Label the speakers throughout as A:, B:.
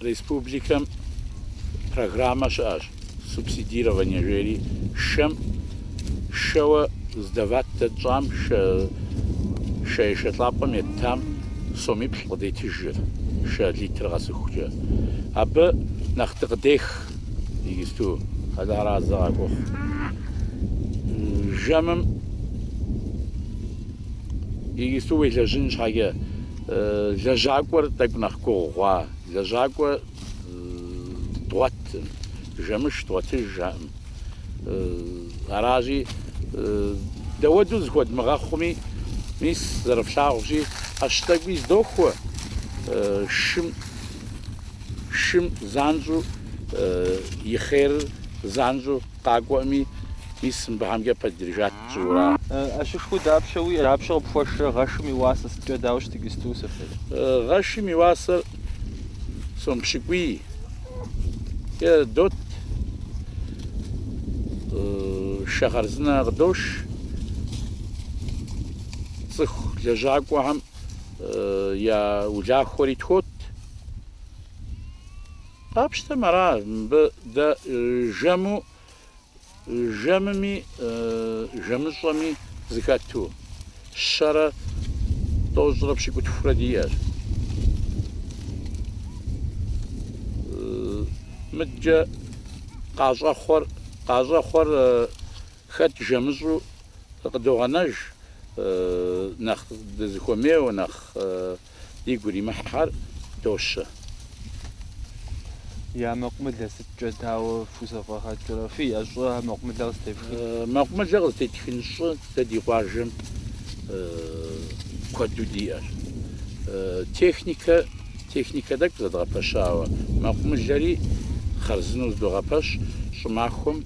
A: Республикэм программэ щыӏэщ субсидирование жери, шэм шэуэ сдавать дэ тщӏам, шэ ешэлӏапӏэм еттам сомиплӏ къыдетыжыр, шэ литр къэсыхукӏэ. Абы нэхъ дыкъыдех иджысту. Къэларазэ къагохъу жэмым иджысту уелэжьын щхьэкӏэ, Лэжьакӏуэр тӏэкӏу нэхъ гугъу хъуа? Лэжьакӏуэ дгъуэтым, жэмыш дгъуэтыжыӏым. Аращи, дауэду зыхуэдмыгъэхъуми, мис зэрыфлъагъущи, ӏэщ тӏэкӏуи здохуэ, шым, шым занщӏу и хъерыр занщӏу къакӏуэӏыми, мис мыбыхьэмкӏэ пэддырыжат. жыура? ӏэщышхуэу
B: дапщэ уиӏэр? Дапщэ къыпхуэшрэ гъэшым и уасэр? Сыткӏэ дауэ щыт иджысту сыфыр? Гъэшым
A: и уасэр сом пщыкӏуий дот, шэ хъарзынэ къыдош, цӏыху лэжьакӏуэхэм я улахуэри тхуот. Къапщтэмэ ара мыбы дэ жэму Жэмми жэмыщӏэми зыхэту, щэрэ тӏощӏрэ пщыкӏутхурэ диӏэщ. Мыдкӏэ къащӏэхъуэр, къащӏэхъуэр хэт жэмыщӏу къыдогъэнэж, нэхъ дызыхуэмейуэ, нэхъ Дигу иримыхьхэр
B: дощэ. Я мэкъумылэ сыткӏэ, дауэ фхузэфӏэгъэкӏрэ? Фиӏэ щӏы мэкъумылэ къызытефхын? Мэкъумылэ
A: къызытетхын щӏы дэ ди къуажэм куэду диӏэщ. Техникэ, техникэ тӏэкӏу зэдгъэпэщауэ, мэкъумылэри хъарзынэу зыдогъэпэщ щӏымахуэм.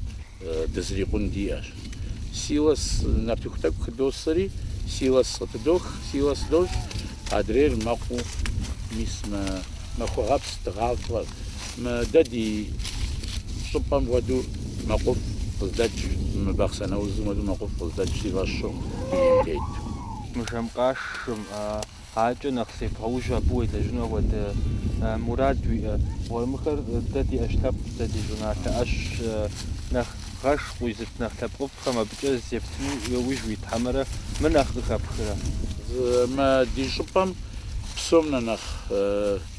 A: Дызрикъун диӏэщ. Силос нартыху тӏэкӏу хыдосэри, силос къытыдох, силос дощӏ, адрейр мэкъуу, мис мы Махуэгъэпс дыгъафӏэр, мы дэ ди щӏыпӏэм хуэдэу мэкъуфӏ къыздэкӏ, мы Бахъсэн аузым хуэдэу мэкъуфӏ къыздэкӏ си фӏэщу, дунейм тету.
B: Мы жэмкъашым. Адэкӏэ нэхъ зебгъэужь абы уелэжьыну апхуэдэ мурад уиӏэ. Гъуэрымыхэр дэ ди ӏэщ лъэпкъщ, дэ ди щӏыналъэ ӏэщщ. Нэхъ гъэш къуизыт нэхъ лъэпкъыфӏхэм абыкӏэ зептыну яужь уит хьэмэрэ мы нэхъ къыхэпхрэ?
A: Мы ди щӏыпӏэм псом нэ нэхъ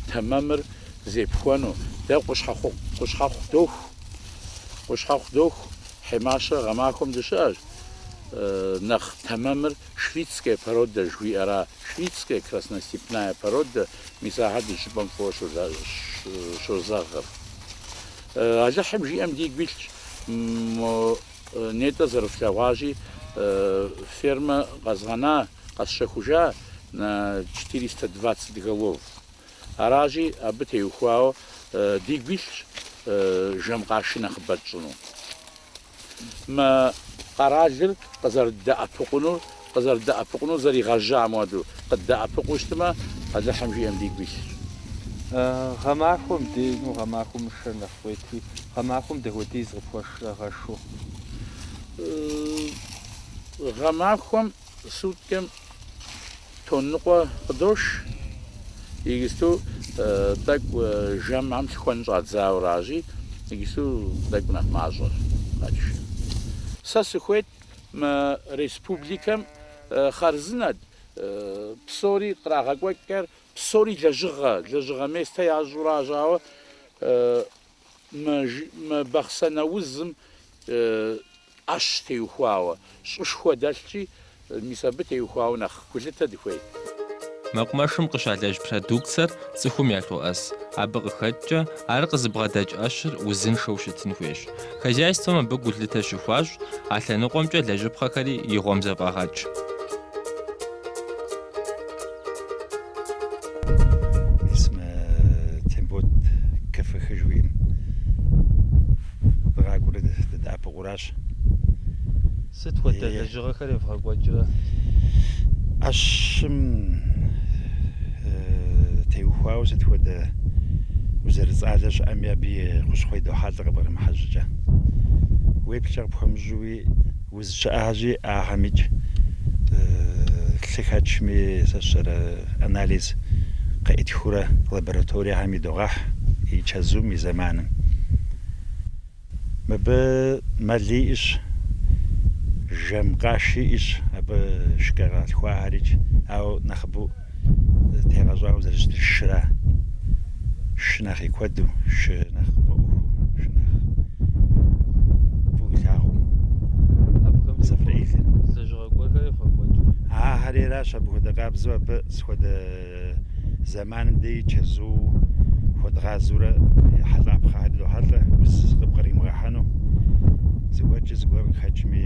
A: тэмэмыр зепхуэну дэ къущхьэхъу доху. Къущхьэхъу доху Хьимащэ гъэмахуэм дыщыӏэщ нэхъ тэмэмыр Швицкая породэ жыхуиӏэра, швицкая красностепная породэ, мис ахэр ди щӏыпӏэм фӏыуэ щозэгъыр. Алыхьым жиӏэм дигу илъщ, мо нетӏэ зэрыфлъэгъуащи, фермэ къэзгъэна, къэсщэхужа на четыреста двадцать голов. Аращи, абы теухуауэ дигу илъщ жэм къаши нэхъыбэ тщӏыну. Мы къэралыр къызэрыддэӏэпыкъунур къызэрыдэӏэпыкъунур зэригъэжьам хуэдэу къыддэӏэпыкъуу щытмэ, Алыхьым жиӏэм дигу илъщ.
B: Гъэмахуэм деину гъэмахуэм мы шэр нэхъ къуетри, гъэмахуэм дапхуэдиз къыпхуэшрэ гъэшу?
A: Гъэмахуэм Суткэм тонн ныкъуэ къыдош, иджысту тӏэкӏу жэмхэм лъыхуэн щӏадзауэращи, иджысту тӏэкӏу нэхъ мащӏэр. Сэ сыхуейт мы республикэм хъарзынэт псори кърагъэкӏуэкӏхэр, псори лэжьыгъэ, лэжьыгъэ местэ ящӏурэ ящӏауэ Мы Бахъсэн аузым ӏэщ теухуауэ, щӏышхуэ дэлъщи, мис абы теухуауэ нэхъ гулъытэ дыхуейт.
C: Мэкъумэшым къыщалэжь продукцэр цӏыхум ялъоӏэс. Абы къыхэкӏкӏэ, ар къызыбгъэдэкӏ ӏэщыр узыншэу щытын хуейщ. Хозяйствэм абы гулъытэ щыхуащӏ, а лъэныкъуэмкӏэ лэжьыпхъэхэри и гъуэм зэфӏагъэкӏ.
D: Сыт хуэдэ лэжьыгъэхэр
B: евгъэкӏуэкӏрэ?
D: ӏэщым теухуауэ сыт хуэдэ уз зэрыцӏалэ щыӏэми абы и хущхъуэ идохьэлӏэ къыбгърымыхьэ щӏыкӏэ. Уеплъкӏэ къыпхуэмыщӏэу Уз щыӏэхэщи, ахэмикӏ лъыхэчми зэщэрэ анализ къеӏытхыурэ лабораториехэм идогъэхь и чэзум, и зэманым. Мыбы мэл иӏэщ, жэм къаши иӏэщ, абы шкэ къалъхуахэрикӏ, ауэ нэхъыбэу тегъэщӏауэ зэрыщытыр шыра. Шы нэхъ и куэду, шы нэхъ къыфӏэӏуэхуу, шы нэхъ фӏыуэ илъагъуу. Абыхэм
B: Сафраилыр.
D: лэжьыгъэ гуэрхэр
B: евгъэкӏуэкӏрэ? Ахэри аращ
D: абы хуэдэ къабзэу абы схуэдэ зэманым дей чэзу хуэдгъазэурэ ехьэлӏапхъэхэр идохьэлӏэ, уз къыпкъримыгъэхьэну. Зыгуэркӏэ зыгуэр къыхэкӏми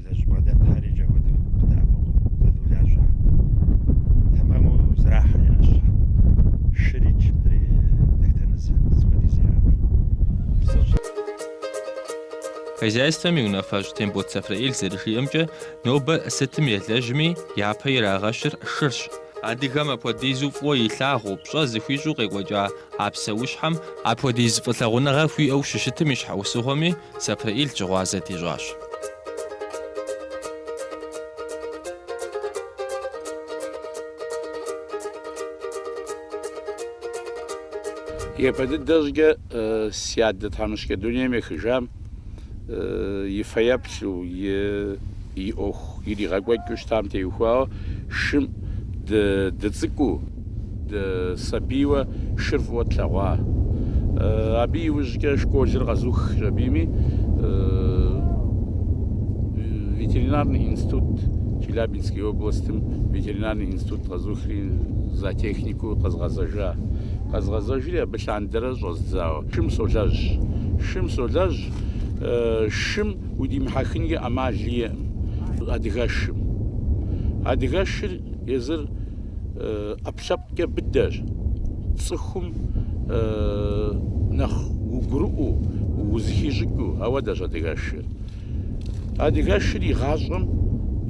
C: Хозяйствэм и унафэщӏ Тембот Сафраил зэрыжиӏэмкӏэ, нобэ сытым елэжьми, япэ ирагъэщыр шырщ. Адыгэм апхуэдизу фӏыуэ илъагъуу, пщӏэ зыхуищӏу къекӏуэкӏа а псэущхьэм апхуэдиз фӏылъагъуныгъэ хуиӏэу щыщытым и щхьэусыгъуэми, Сафраил щыгъуазэ
A: дищӏащ. Япэ дыдэ щӏыкӏэ си адэ тхьэмыщкӏэ дунейм ехыжам и фэеплъу, и и ӏуэху иригъэкӏуэкӏыу щытам теухуауэ шым дыцӏыкӏуу, дысабийуэ шыр фӏыуэ тлъэгъуа. Абы иужькӏэ школыр къэзухщ абыми ветеринарный институт, Челябинский областым ветеринарный институт къэзухри зоотехникыу къэзгъэзэжа. Къэзгъэзэжри абы лъандэрэ щӏэздзауэ шым солэжь. Шым солэжь, шым удимыхьэхынкӏэ ӏэмал иӏэкъым адыгэшым. Адыгэшыр езыр ӏэпкълъэпкъкӏэ быдэщ, цӏыхум нэхъ угурыӏуэу, узыхищӏыкӏыу, ауэдэщ адыгэшыр. Адыгэшыр игъащӏэм,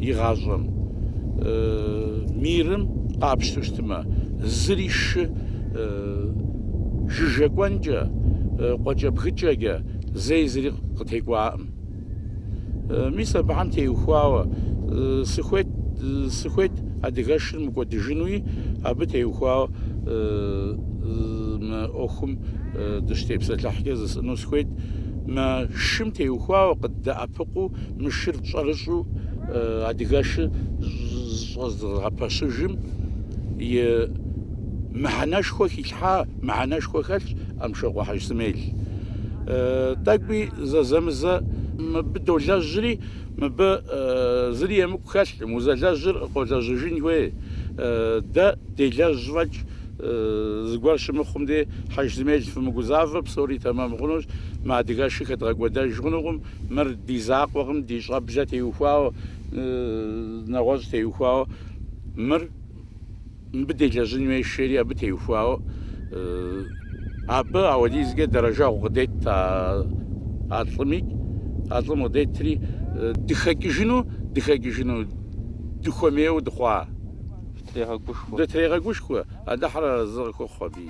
A: игъащӏэм мирым къапщту щытмэ, зыри шы жыжьэ кӏуэнкӏэ, къуэкӏэбгыкӏэкӏэ, Зэи зыри къытекӏуакъым. Мис абыхэм теухуауэ сыхуейт, сыхуейт адыгэшыр мыкӏуэдыжынуи, абы теухуауэ мы ӏуэхум дыщытепсэлъыхькӏэ жысӏэну сыхуейт. Мы шым теухуауэ къыддэӏэпыкъуу, мы шыр щӏэрыщӏэу адыгэшыр щӏызэдгъэпэщыжым и мыхьэнэшхуэ хилъхьа мыхьэнэшхуэ хэлъщ. Амщокъуэ Хьэжысмел. Тӏэкӏуи зэзэмызэ мыбы долэжьри, мыбы зыри емыкӏу хэлъкъым, узэлэжьыр къолэжьыжын хуей. Дэ делэжь фӏэкӏ зыгуэр щымыхъум дей, Хьэжысмел, фымыгузавэ, псори тэмэм хъунущ, мы адыгэшыр хэдгъэкӏуэдэж хъунукъым, мыр ди закъуэкъым, ди щӏэблэ теухуауэ, нэгъуэщӏ теухуауэ мыр. Мыбы делэжьын хуейщ, жери абы теухуауэ абы ауэдизкӏэ дэрэжэгъу къыдет а а лӏыми, а лӏым къыдетри дыхэкӏыжыну, дыхэкӏыжыну, дыхуэмейуэ дыхъуа? Дытрегъэгушхуэ. Дытрегъэгушхуэ, Алыхьыр арэзы къыхухъу абыи.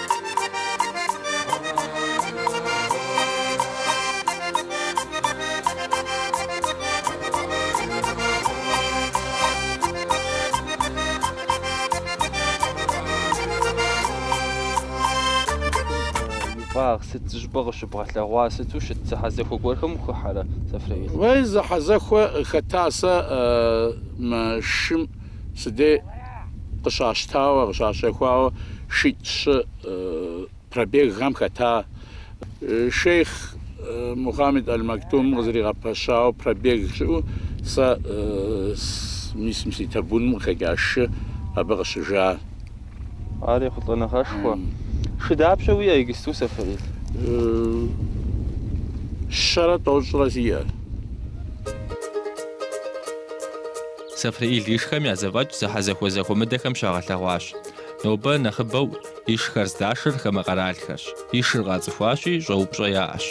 B: Вагъ сыт зыщӏыпӏэ къыщыбгъэлъэгъуа? Сыту щыт зэхьэзэхуэ гуэрхэм ухыхьэрэ, Сэфрэил? Уей, зэхьэзэхуэ
A: хэта сэ мы шым Си дей къыщащтауэ, къыщащэхуауэ шитӏ-щы пробегхэм хэта шейхъ Мухаммед Аль-Мактум къызэригъэпэщауэ пробег щыӏэу, сэ мисым си табуным къыхэкӏа шы абы
B: къыщыжа. Ар ехъулӏэныгъэшхуэ. Шы дапщэ уиӏэ игысту,
A: Сэфрэил? Щэрэ тӏощӏрэ сиӏэр.
C: Сэфрэил ишхэм я зэфӏэкӏ зэхьэзэхуэ зэхуэмыдэхэм щагъэлъэгъуащ. Нобэ нэхъыбэу ишхэр здашэр хамэ къэралхэрщ. Ишыр къацӏыхуащи, щӏэупщӏэ яӏэщ.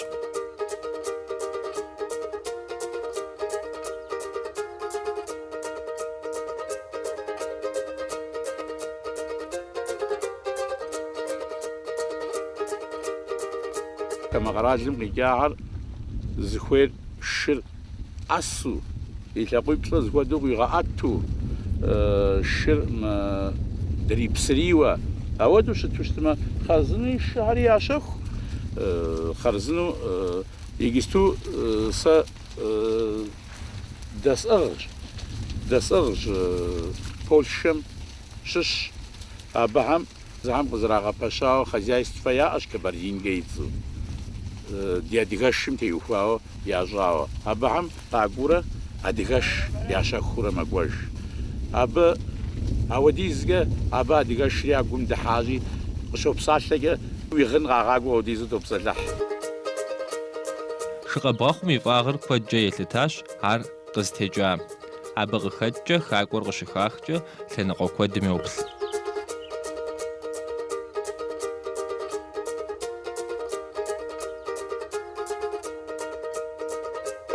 C: Хамэ къэралым къикӏахэр
A: зыхуейр шыр ӏэсу, и лъакъуиплӏыр зыхуэдэу къыуигъэӏэту, шыр дрипсрийуэ, ауэдэу щыту щытмэ, хъарзынэу и шыхэри ящэху. Хъарзынэу иджысту сэ дэсӏыгъщ, дэсӏыгъщ Польшэм щыщ. Абыхэм. Зыхэм къызэрагъэпэщауэ хозяйствэ яӏэщ Кабардинкэ и цӏэу, ди адыгэшым теухуауэ ящӏауэ. Абыхэм къакӏуурэ адыгэш ящэхуурэ мэкӏуэж. Абы ауэдизкӏэ абы адыгэшри я гум дыхьащи, къыщопсалъэкӏэ, уи гъын къагъакӏуэ ауэдизу топсэлъыхь.
C: Шы къэбгъэхъум и фӏагъыр куэдкӏэ елъытащ, ар. къызытекӏа. Абы къыхэкӏкӏэ, хакӏуэр къыщыхахкӏэ, лъэныкъуэ куэдым
B: йоплъ.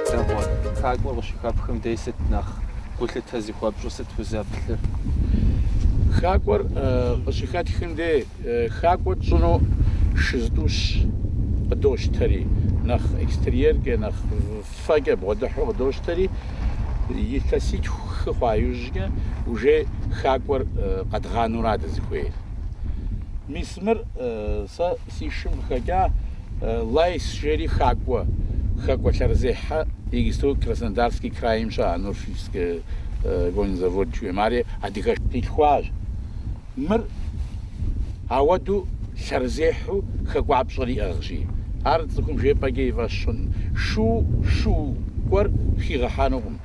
B: Дэгъуэ, хакӏуэр къыщыхэпхым дей сыт нэхъ гулъытэ зыхуэпщӏу, сыт
A: узэплъыр? Хакӏуэр къыщыхэтхым дей, хакӏуэ тщӏыну шы зытӏущ къыдощтэри, нэхъ экстерьеркӏэ, нэхъ. Фэкӏэ бгъуэдыхьу къыдощтэри, илъэситху хы хъуа иужькӏэ уже хакӏуэр къэдгъанура дызыхуейр. Мис мыр сэ си шым къыхэкӏа Лайс жери хакӏуэ, хэкӏуэ лъэрызехьэ иджыпсту Краснодарский крайм щыӏэ Нурфивскэ конзавод жыхуаӏэм, ари адыгэш къилъхуащ. Мыр ауэдэу лъэрызехьэу хэкӏуапщӏэр иӏыгъщи, ар цӏыхум жепӏэкӏэ и фӏэщ хъун. Шу, шу гуэр хигъэхьэнукъым,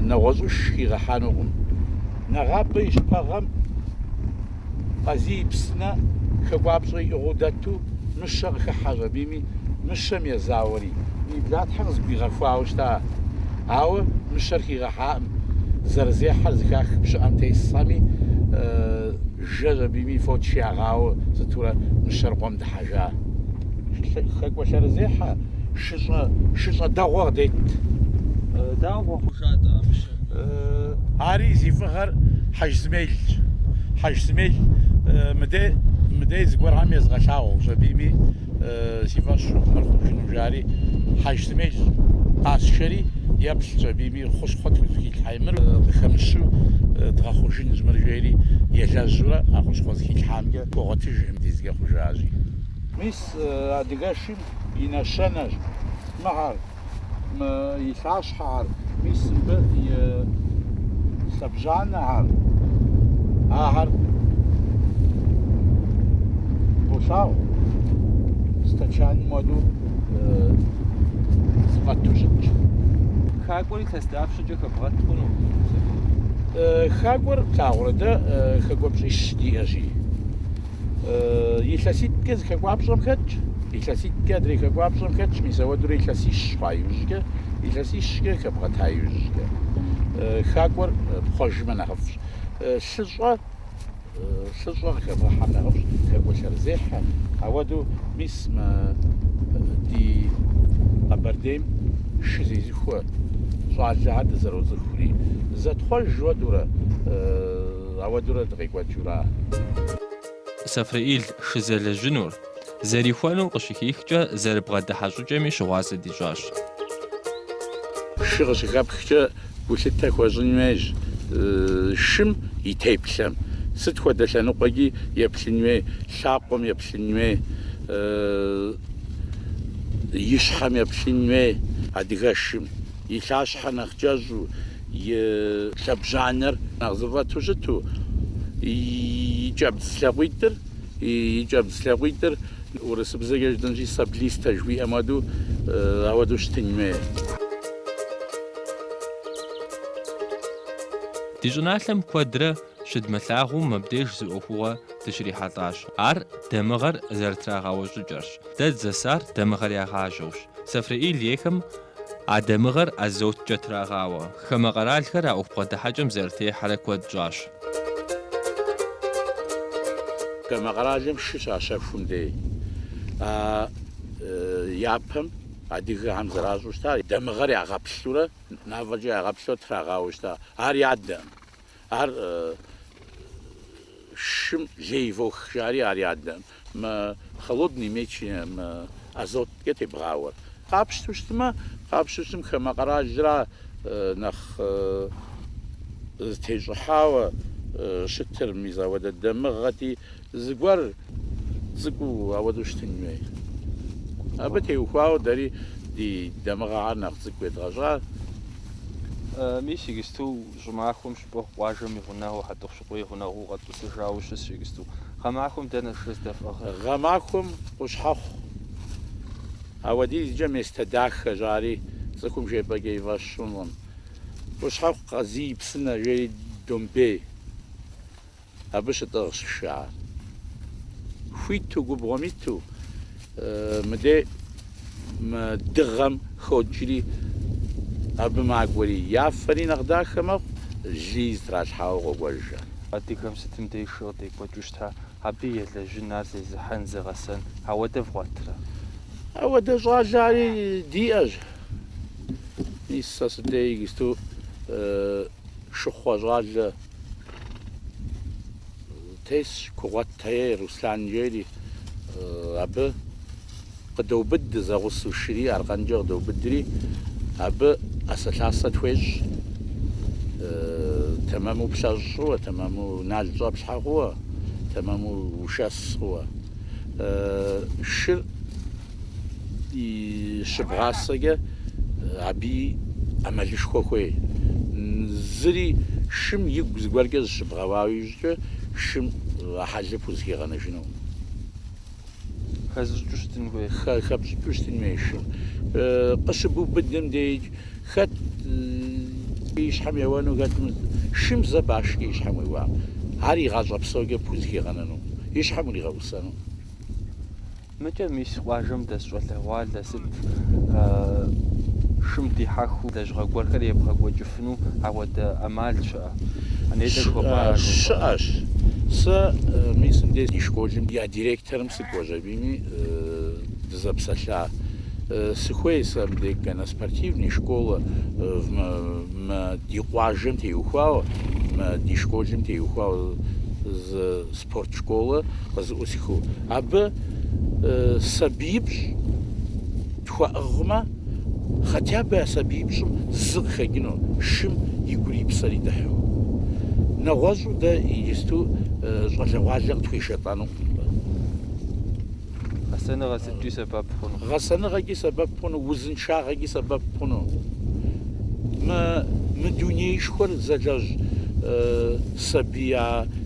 A: нэгъуэщӏыш хигъэхьэнукъым. Нэгъабэ и щыпэгъэм Къазий и псынэ хэкӏуапщӏэ иӏыгъыу дэту, мыщэ къыхыхьэщ абими. мыщэм езауэри, и блатхьэр зэгуигъэхуауэ щыта. Ауэ мыщэр хигъэхьаӏым, зэрызехьэр зыхах пщыӏэм тесхэми, жэщ абими фоч ягъауэ сытурэ мыщэр къуэм дыхьэжа. Хэкӏуэ лъэрызехьэ шыщӏэ, шыщӏэ дэгъуэ къыдет.
B: Дауэ хъужа-тӏэ а мыщэр?
A: Ари зи фӏыгъэр Хьэжысмелщ. Хьэжысмел мыдей, мыдей зыгуэрхэм езгъэлъагъущ абими. си фӏэщ мыр хъужыну, жари Хьэжысмел къасшэри, еплъщ абими хущхъуэ тхузыхилъхьа мыр къыхэмыщу дгъэхъужынущ мыр жери елэжьурэ а хущхъуэ зыхилъхьамкӏэ хуогъуэтыж дизкӏэ хъужащи. Мис адыгэшым и нэщэнэщ мыхьэр. и лъащхьэхэр, мис мыбы и лъэбжьанэхэр, ахэр болъагъу стэчаным хуэду зыфӏэту щытщ.
B: Хакӏуэр илъэс дапщэкӏэ хэбгъэт хъуну? Хакӏуэр
A: плъагъурэ дэ хэкӏуэпщӏищ диӏэщи. Илъэситӏкӏэ зы хэкӏуапщӏэм хэтщ, илъэситӏкӏэ адрей хэкӏуапщӏэм хэтщ, мис ауэдурэ илъэсищ хъуа иужькӏэ, илъэсищкӏэ хэбгъэта иужькӏэ. Хакӏуэр пхъуэжмэ нэхъыфӏщ. Лъыщӏэ, лъыщӏэ къыхэбгъэхьэм нэхъыфӏщ, хэкӏуэ лъэрызехьэ. Ауэду, мис мы ди Къэбэрдейм шы зезыхуэ щӏалэхэр дызэроцӏыхури, зэтхъуэжу ауэдурэ, Ауэдурэ дыкъекӏуэкӏыура?
C: Сафреил шызэлэжьынур, зэрихуэнур къыщыхихкӏэ, зэрыбгъэдыхьэ щӏыкӏэми щыгъуазэ дищӏащ.
A: Шы къыщыхэпхкӏэ гулъытэ хуэщӏын хуейщ шым и теплъэм. Сыт хуэдэ лъэныкъуэкӏи еплъын хуей, лъакъуэм еплъын хуей, и щхьэм еплъын хуей. Адыгэшым и лъащхьэ нэхъ кӏэщӏу, и лъэбжьанэр нэхъ зыфӏэту щыту, и кӏэбдз лъакъуитӏыр, и кӏэбдз лъакъуитӏыр урысыбзэкӏэ жытӏэнщи, саблистэ жыхуиӏэм хуэдэу, ауэдэу щытын хуейр.
C: Ди щӏыналъэм куэдрэ щыдмылъагъуу мыбдеж зы ӏуэхугъуэ дыщрихьэлӏащ. Ар дамыгъэр зэрытрагъэуэ щӏыкӏэрщ. Дэ дызэсар дамыгъэр ягъажьэущ. Сафреил ейхэм а дамыгъэр азоткӏэ трагъауэ. Хамэ къэралхэр а ӏуэху бгъэдыхьэкӏэм зэрытехьэрэ куэд щӏащ.
A: Хамэ къэралым шы щащэхум дей а япэм адыгэхэм зэращӏу щыта, дамыгъэр ягъэплъурэ, нафӏэкӏэ ягъэплъурэ трагъауэ щыта. Ар ядэм. Ар шым лей вох, жари ар ядэм, мы холодный мечи мы азоткӏэ тебгъауэр. Къапщту щытмэ, къапщту щытым хамэ къэралра нэхъ зытещӏыхьауэ щытыр, мис ауэдэ дамыгъэти, зыгуэр цӏыкӏуу ауэдэу щытын хуей. Абы теухуауэ дэри ди дамыгъэхэр нэхъ цӏыкӏу едгъэщӏа.
B: Мис иджысту щӏымахуэм щыпэкъу, къуажэм и гъунэгъуу Хьэтӏохъущыкъуей гъунэгъуу къэтӏысыжауэ щыс игысту. Гъэмахуэм дэнэ шыр здэфӏыгъыр? Гъэмахуэм
A: къущхьэхъу ауэдизкӏэ местэ дахэ жари цӏыхум жепӏэкӏэ и фӏэщ щӏынкъым. Къущхьэхъу къазий псынэ жери Домбей Абы щытӏыгъщ шыхэр. Хуиту губгъуэм иту мыдей мы дыгъэм ходжри абы макӏуэри. Я фэри нэхъ дахэ мэхъу, лыи зытралъхьауэ къокӏуэжхэр. Адыгэм
B: сытым деж шы къыдекӏуэкӏыу щыта, абы елэжьын, ар зезыхьэн, зыгъэсэн. Ауэдэ вгъуэтырэ? Ауэдэ
A: щӏалэхэри диӏэщ. Мис сэ сыдей иджысту Шыхъуэ щӏалэ тесщ, Кугъуэт-Тае Руслан жери, абы къыдоубыд зэгъусу шыри аркъэнкӏэ къыдоубыдри, абы ӏэсэлъасэ тхуещӏ, тэмэму плъэщӏ хъууэ, тэмэму нал щӏэплъхьэ хъууэ, тэмэму ушэс хъууэ. Шыр. и щыбгъасэкӏэ абы ӏэмалышхуэ хуей. Зыри шым игу зыгуэркӏэ зыщыбгъэуа иужькӏэ шым а хьэлыр пхузыхигъэнэжынукъым.
B: Хэзыщӏыкӏыу щытын хуей? Хэпщӏыкӏыу щытын
A: хуей шым. Къыщыбубыдым деикӏ, хэт и щхьэм еуэну, хэт шым зэ башкӏэ и щхьэм уеуакъэ, ар и гъащӏэ псокӏэ пхузыхигъэнэнукъым, и щхьэм уригъэӏусэнукъым.
B: Мыкӏэ мис къуажэм дэс щӏалэгъуалэ сыт шым дихьэхыу лэжьыгъэ гуэрхэр ебгъэкӏуэкӏыфыну ауэдэ ӏэмал щыӏэ? Анетӏэ жыхуэпӏа ар жыфӏэу? Щыӏэщ.
A: Сэ мис мыбдеж ди школым я директорым сыкӏуэщ абийми дызэпсэлъа. Сыхуей сэ мыбдеж конноспортивный школэ мы ди къуажэм теухуауэ, мы ди школым теухуауэ зы спорт школэ. къызыӏусхыу, абы сабиипщӏ тхуэӏыгъмэ, хотя бы а сабиипщӏым зы къыхэкӏыну, шым игури и псэри дыхьу. Нэгъуэщӏу дэ иджысту щӏалэгъуалэ къытхуешэлӏэнукъым
B: абы. Гъэсэныгъэ сыткӏи сэбэп хъуну? Гъэсэныгъэкӏи
A: сэбэп хъуну, узыншагъэкӏи сэбэп хъуну. Мы дунейшхуэр зэлэжь сабий а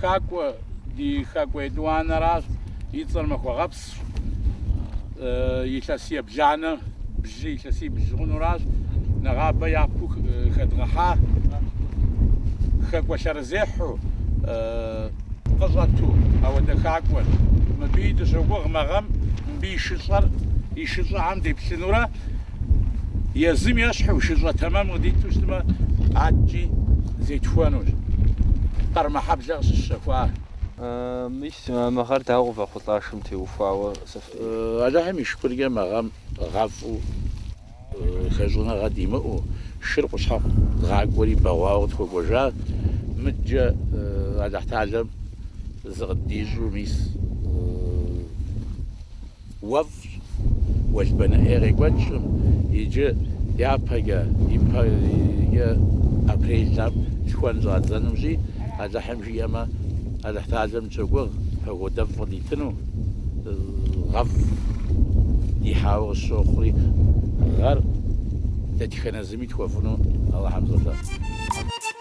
A: Хакӏуэ, ди хакӏуэ етӏуанэращ, и цӏэр Махуэгъэпсщ, илъэс ебланэ бжьы, илъэсий бжьы хъунуращ, нэгъабэ япэу хэдгъэхьа, хакӏуэ лъэрызехьэу къыщӏэту ауэдэ хакӏуэр. Мыбыи дыщогугъ мы гъэм мыбы и шыщӏэр, и шыщӏэхэм деплъынурэ Езым ещхьу шыщӏэ тэмэм къыдиту щытмэ, аткӏи зетхуэнущ Къармэхьэблэ къыщыщэхуар. Мис
B: мыгъэр дауэ къывэхъулӏа шым теухуауэ сыфӏри?
A: Алыхьым и шыкуркӏэ мы гъэм гъэфӏу, хэщӏыныгъэ димыӏэу, шыр къущхьэхъу дгъакӏуэри бэгъуауэ къытхуэкӏуэжа, мыдкӏэ Алыхьталэм зыкъыддищӏу, мис уэфӏщ. Уэлбанэ ӏей къекӏуэкӏым иджы япэкӏэ, иджы апрельхэм лъхуэн щӏадзэнущи, Алыхьым жиӏэмэ, Алыхьталэм дыщогугъ погодэфӏ къыдитыну, гъэфӏ дихьауэ къысщохъури, гъэр дэтхэнэ зыми тхуэфӏыну Алыхьым солъэӏу.